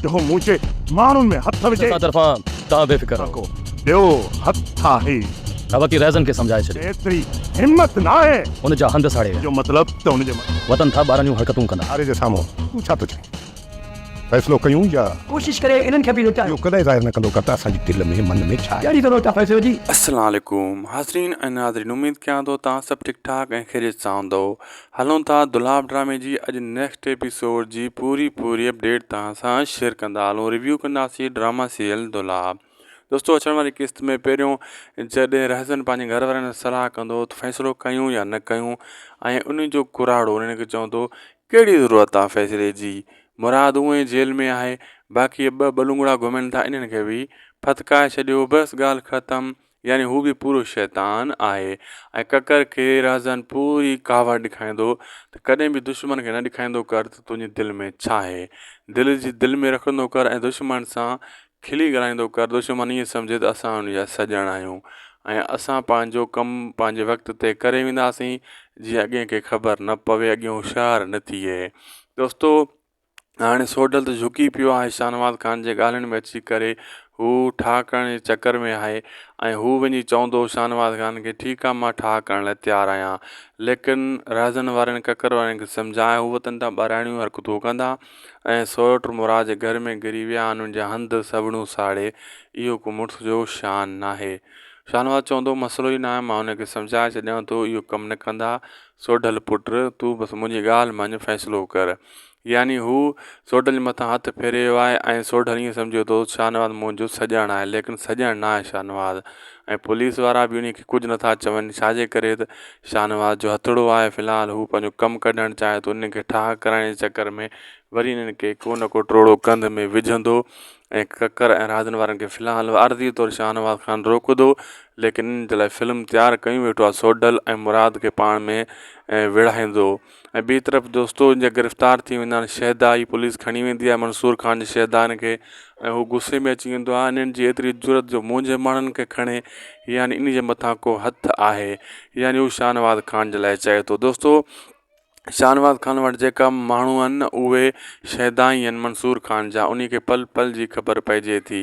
جيڪو مون جي ماڻهن ۾ هٿ وجهي. اسان طرفان توهان بي فڪر رهو. ٻيو هٿ آهي. ابا ڪي رهزن کي سمجهائي ڇڏيو. ايتري همت ناهي. ان جا هنڌ ساڙي ويا. جو مطلب ته ان جي. وتن ٿا ٻاراڻيون حرڪتون ڪندا. آري جي سامهون تون ڇا ٿو چوين؟ فيصلو ڪيون يا. ڪوشش ڪري انهن کي به لٽايو. اهو ڪڏهن ظاهر نه ڪندو ڪر ته اسان جي دل ۾ من ۾ ڇا آهي. ڪهڙي ضرورت آهي فيصلو جي. السلام عليڪم حاضرين ۽ ناظرين اميد ڪيان ٿو توهان سڀ ٺيڪ ٺاڪ ۽ خيريت سان هوندؤ هلون ٿا دولاب ڊرامي جي اڄ نيڪسٽ ايپيسوڊ جي پوري پوري اپڊيٽ توهان سان شيئر ڪندا هلون ريويو ڪنداسين ڊراما سيريل دولاب دوستو اچڻ واري قسط ۾ پهريون جڏهن رهزن پنهنجي گهر وارن سان صلاح ڪندو ته فيصلو ڪيون يا نه ڪيون ۽ ان جو ڪراڙو انهن کي چوندو ڪهڙي ضرورت آ فيصلي جي مراد اونء ئي جيل ۾ آهي باقي ٻه ٻلونگڙا گهمن ٿا انهن کي به ڦٿڪائي ڇڏيو بس ڳالهه ختم يعني هو به پورو شيطان آهي ۽ ڪڪر کي رهزان پوري ڪاوڙ ڏيکاريندو ته ڪڏهن به دشمن کي نه ڏيکاريندو ڪر ته تنهنجي دل ۾ ڇا آهي دل جي دل ۾ رکندو ڪر ۽ دشمن سان کلي ڳالهائيندو ڪر دشمن ائين سمجهي ته اسان ان جا سڄڻ آهيون ۽ اسان پنهنجو ڪم پنهنجي وقت تي ڪري وينداسين جيئن اڳين کي خبر نه پوي اڳين هوشيار نه ٿئي دوستو هاڻي سوڍل ته جهڪي پيو آهي شاهنواز خان جي ڳالهين ۾ اچي ڪري هو ٺاهه ڪرڻ جي چڪر ۾ آهي ۽ هو وڃي چوندو هو شاهنواز خان کي ٺيڪ آهي مان ٺاهه ڪرڻ لاء تيار آهيان ليڪن رهزن وارين ڪڪر وارين کي سمجهاء هو وطن تان ٻاراڻيون حرڪتون ڪندا ۽ سوئٽر مراد جي گهر ۾ گري ويا آهن ان جا هنڌ سوڙيون ساڙي اهو ڪو مڙس جو شان ناهي شاهنواز چوندو هو مسئلو ئي ناهي مان انهن کي سمجهائي ڇڏيان ٿو اهو ڪم نه ڪندا سوڍل پٽ، تون بس منهنجي ڳالهه مڃ، فيصلو ڪر. يعني هو سوڍل جي مٿان هٿ ڦيري ويو آهي ۽ سوڍل ائين سمجهي ٿو ته شاهنواز منهنجو سڄڻ آهي، ليڪن سڄڻ نه آهي شاهنواز ۽ پوليس وارا به انهي کي ڪجهه نه ٿا چون، ڇا جي ڪري ته شاهنواز جو هٿڙو آهي، في الحال هو پنهنجو ڪم ڪڍڻ چاهي ٿو، انهن کي ٺاهه ڪرائڻ جي چڪر ۾ وري انهن کي ڪو نه ڪو ٽوڙو ڪنڌ ۾ وجهندو ۽ ڪڪر ۽ راڄن وارن کي في الحال عارضي طور شاهنواز خان روڪدو ليڪن انهن جي لاء فلم تيار ڪيون ويٺو آهي سوڍل ۽ مراد کي پاڻ ۾ ويڙهائيندو ۽ ٻي طرف دوستو ان جا گرفتار ٿي ويندا آهن شهدا هي پوليس کڻي ويندي آهي منصور خان جي شهدا ان کي ۽ هو غصي ۾ اچي ويندو آهي انهن جي ايتري جرت جو منهنجي ماڻهن کي کڻي يعني ان جي مٿان ڪو هٿ آهي يعني هو شاهنواز خان جي لاء چئي ٿو دوستو شاهنواز خان وٽ جيڪا ماڻهو آهن نه اهي شيدا ئي آهن منصور خان جا انهي کي پل پل جي خبر پئجي ٿي.